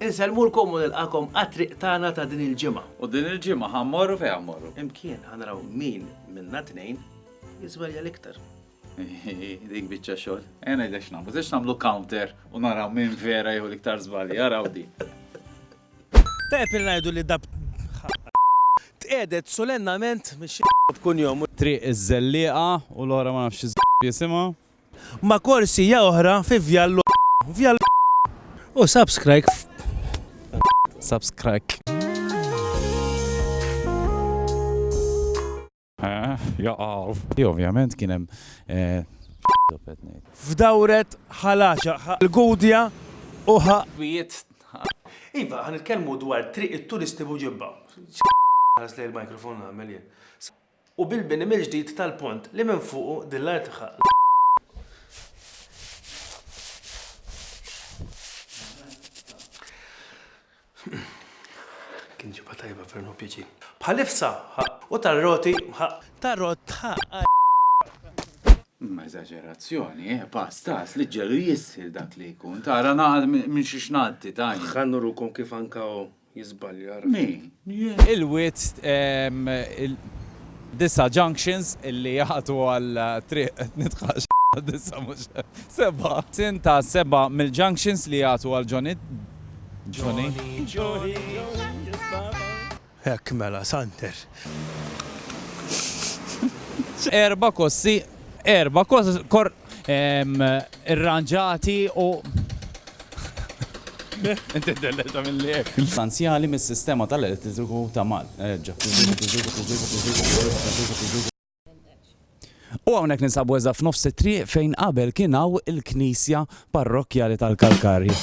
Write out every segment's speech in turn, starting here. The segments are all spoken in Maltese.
Insellmulkom u nilqakom għat-triq tagħna ta' din il-ġimgħa. U din il-ġimgħa ħa mmorru fejn mmorru. Imkien ħa naraw min minna tnejn jiżwelja l-iktar. Dik biċċa xogħol. Ejja ngħidlek x'nagħmlu, żiex nagħmlu counter u naraw min vera jew l-iktar żbalji, araw di. Tajjeb li ngħidu li dab tqiegħdet sulennament mix-xi b'kunjom. Triq iż-Żellieqa u l-oħra ma nafx xi jisimha. ma korsija ohra fi vjal l vjal l u subscrike subscrike. Eh, jaqalf. Ti ovvjament kien hemm eh, F'dawret ħalaxa l-gudja u ħa. Wiet. Iva, ħan nitkellmu dwar triq it-turisti buġibba. Għas li l-mikrofon għamel jien. u bil-bini mill-ġdid tal-pont li minn fuqu din l-art ħa Kien ġibha tajba ferm hu pjaċir. Bħalifsa ħa u tar-roti ħa tar-rott ħa Imma eżaġerazzjoni, eh, pass tas li ġġelu jisħil dak li jkun. Tara naqal minn xiex ngħaddi, Tanja. Ħa nurukom kif anka jiżbalja min? Il-wied disa' junctions illi jagħtu għal triq nitħax disa' mhux sebgħa. Sin ta' sebgħa mill-junctions li jagħtu għal Johnny Johnny Johnny Hekk mela, Santer. Erba' kossi erba' kor irranġati u essenzjali mis-sistema tal-elettriku ta' Malta. U hawnhekk ninsabu eżatt f'nofs it-triq fejn qabel kien hawn il-knisja parrokkjali tal-Kalkarji.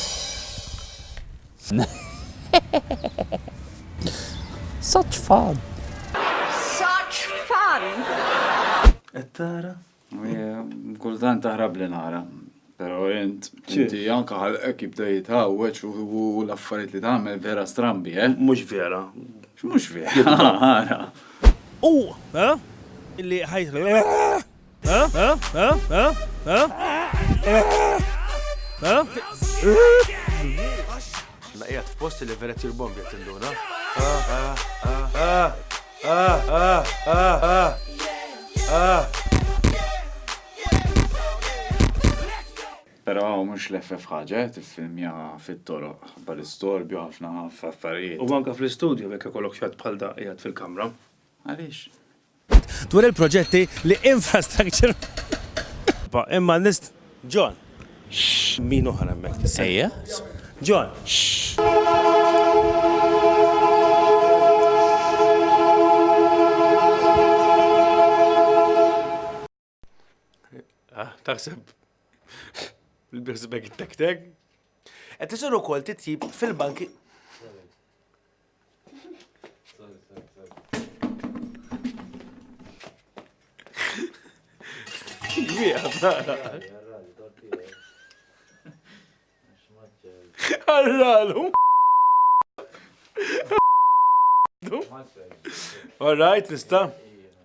Such fun! Such fun! Qed tara? Kultant taħrab li nara, pero int, inti anka ħalqek jibda jitħawweċ u l-affarijiet li tagħmel vera strambi, eh? Mhux vera. Mhux vera. U, eh? Illi ħajt. Naqijat f'posti li vera tir bombi tinduna. Però mhux l-FF ħaġa, tiffilmja fit-toroq, ħabba l-istorbju ħafna f'affarijiet. U anke fl-istudju jekk ikollok xatt bħal da qiegħed fil-kamra. Għaliex? Dwar il-proġetti li Infrastructure. Imma nist. John, Xxx! Min oħra hemmhekk? Ejja. John, Xxxx! Taħseb il-birsbag tek-tek? Qed isir ukoll titjib fil-banki. Għarralu. All right, nista.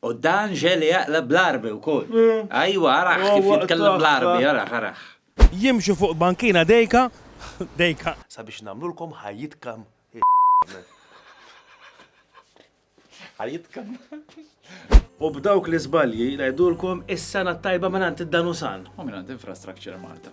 U dan ġieli jaqleb bl-Għarbi wkoll. Ajwa, arah kif jitkellem bl-Għarbi, arah, arah. Jimxu fuq bankina dejka, dejka. Sabiex nagħmlulkom ħajjitkom iż-żmien. Ħajjitkom. U b'dawk l-iżbalji ngħidulkom is-Sena t-Tajba mingħand id-Danusan. U mingħand Infrastructure Malta.